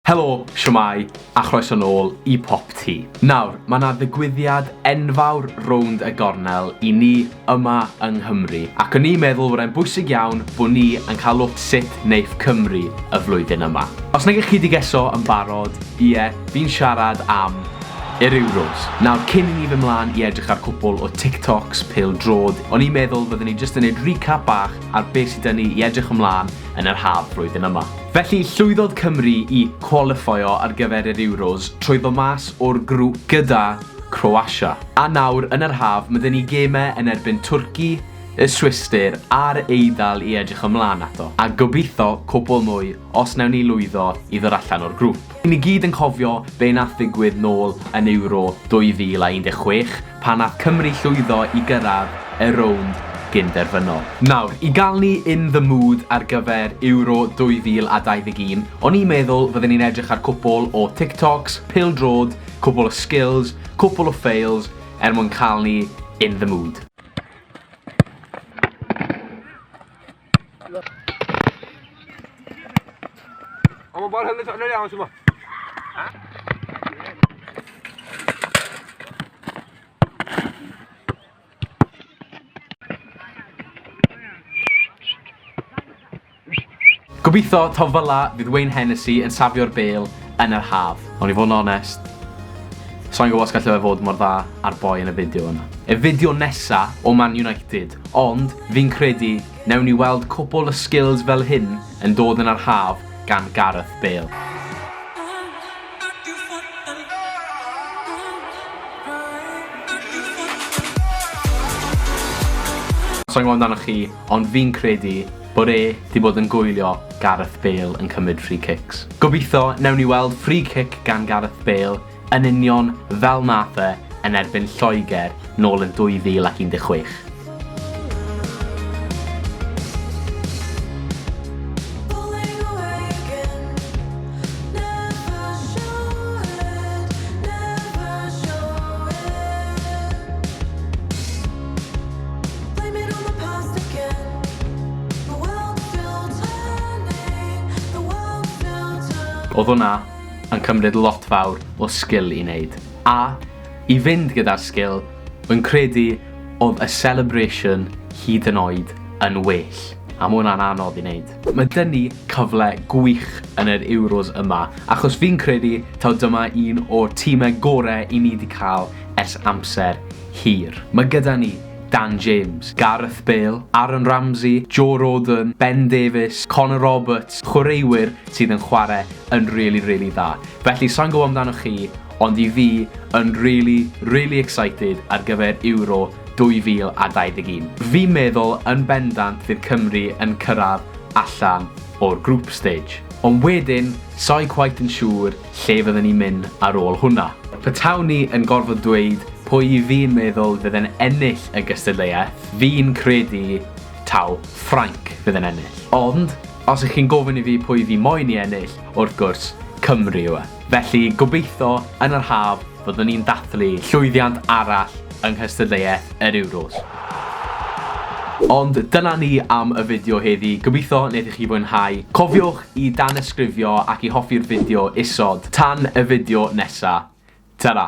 Helo, shwmae, a chroeso nôl i Pop Tee. Nawr, mae 'na ddigwyddiad enfawr rownd y gornel i ni yma yng Nghymru, ac o'n i'n meddwl fod e'n bwysig iawn bod ni yn cael look sut neiff Cymru y flwyddyn yma. Os nagych chi 'di geso yn barod, ie, fi'n siarad am yr Euros. Nawr, cyn i ni fyn' mlan i edrych ar cwpwl o TikToks pêl drod, o'n i'n meddwl fyddwn ni jyst yn neud recap bach ar be sy 'da ni i edrych ymlan yn yr haf flwyddyn yma. Felly, llwyddodd Cymru i cwalifeio ar gyfer yr Euros trwy ddod mas o'r grŵp gyda Croatia. A nawr, yn yr haf, ma' 'da ni gemau yn erbyn Twrci, y Swistir a'r Eidal i edrych ymlaen ato, a gobeithio cwpwl mwy os wnawn ni lwyddo i ddod allan o'r grŵp. Ry'n ni gyd yn cofio be wnaeth ddigwydd nôl yn Euro 2016 pan wnaeth Cymru llwyddo i gyrraedd y rownd gyn-derfynol. Nawr, i gael ni in the mood ar gyfer Euro 2021, o'n i'n meddwl fydden ni'n edrych ar cwpwl o TikToks, pêl-droed, cwpwl o skills, cwpwl o fails er mwyn cael ni in the mood. Ama bal hem de çatlar ya Asuba. Gobeithio taw fel 'na fydd Wayne Hennessey yn safio'r bêl yn yr haf. Ond i fod yn onest, sai'n gwybod os gallu fe fod mor dda a'r boi yn y fideo yna. Y fideo nesa o Man United, ond fi'n credu newn ni weld cwpwl o skills fel hyn yn dod yn yr haf gan Gareth Bale. Sai'n gwybod amdanoch chi, ond fi'n credu bod e 'di bod yn gwylio Gareth Bale yn cymryd free kicks. Gobeithio newn ni weld free kick gan Gareth Bale yn union fel nath e yn erbyn Lloegr nôl yn 2016. Oedd hwnna yn cymryd lot fawr o sgil i wneud. A, i fynd gyda'r sgil, rwy'n credu oedd y celebration hyd yn oed yn well. A mae hwnna'n anodd i wneud. Mae dyn ni cyfle gwych yn yr Euros yma, achos fi'n credu taw dyma un o'r timau gorau i ni 'di cael ers amser hir. Mae gyda ni Dan James, Gareth Bale, Aaron Ramsey, Joe Rodon, Ben Davies, Connor Roberts, chwaraewyr sydd yn chwarae yn really, really dda. Felly, sa'n gwybod amdano chi, ond i fi yn really, really excited ar gyfer Euro 2021. Fi'n meddwl yn bendant fydd Cymru yn cyrraedd allan o'r group stage. Ond wedyn, sa'i quite yn siŵr Lle fydden ni'n mynd ar ôl hwnna? Petawn ni yn gorfod dweud pwy i fi'n meddwl fydd yn ennill y gystadleuaeth, fi'n credu taw Ffrainc fydd yn ennill. Ond, os ych chi'n gofyn i fi pwy fi moyn i ennill, wrth gwrs, Cymru yw e. Felly, gobeitho, yn yr haf, fyddwn ni'n dathlu llwyddiant arall yng nghystadleuaeth yr Euros. Ond dyna ni am y fideo heddi, gobeithio wnaethoch chi fwynhau. Cofiwch i danysgrifio ac i hoffi'r fideo isod. Tan y fideo nesa'. Tara!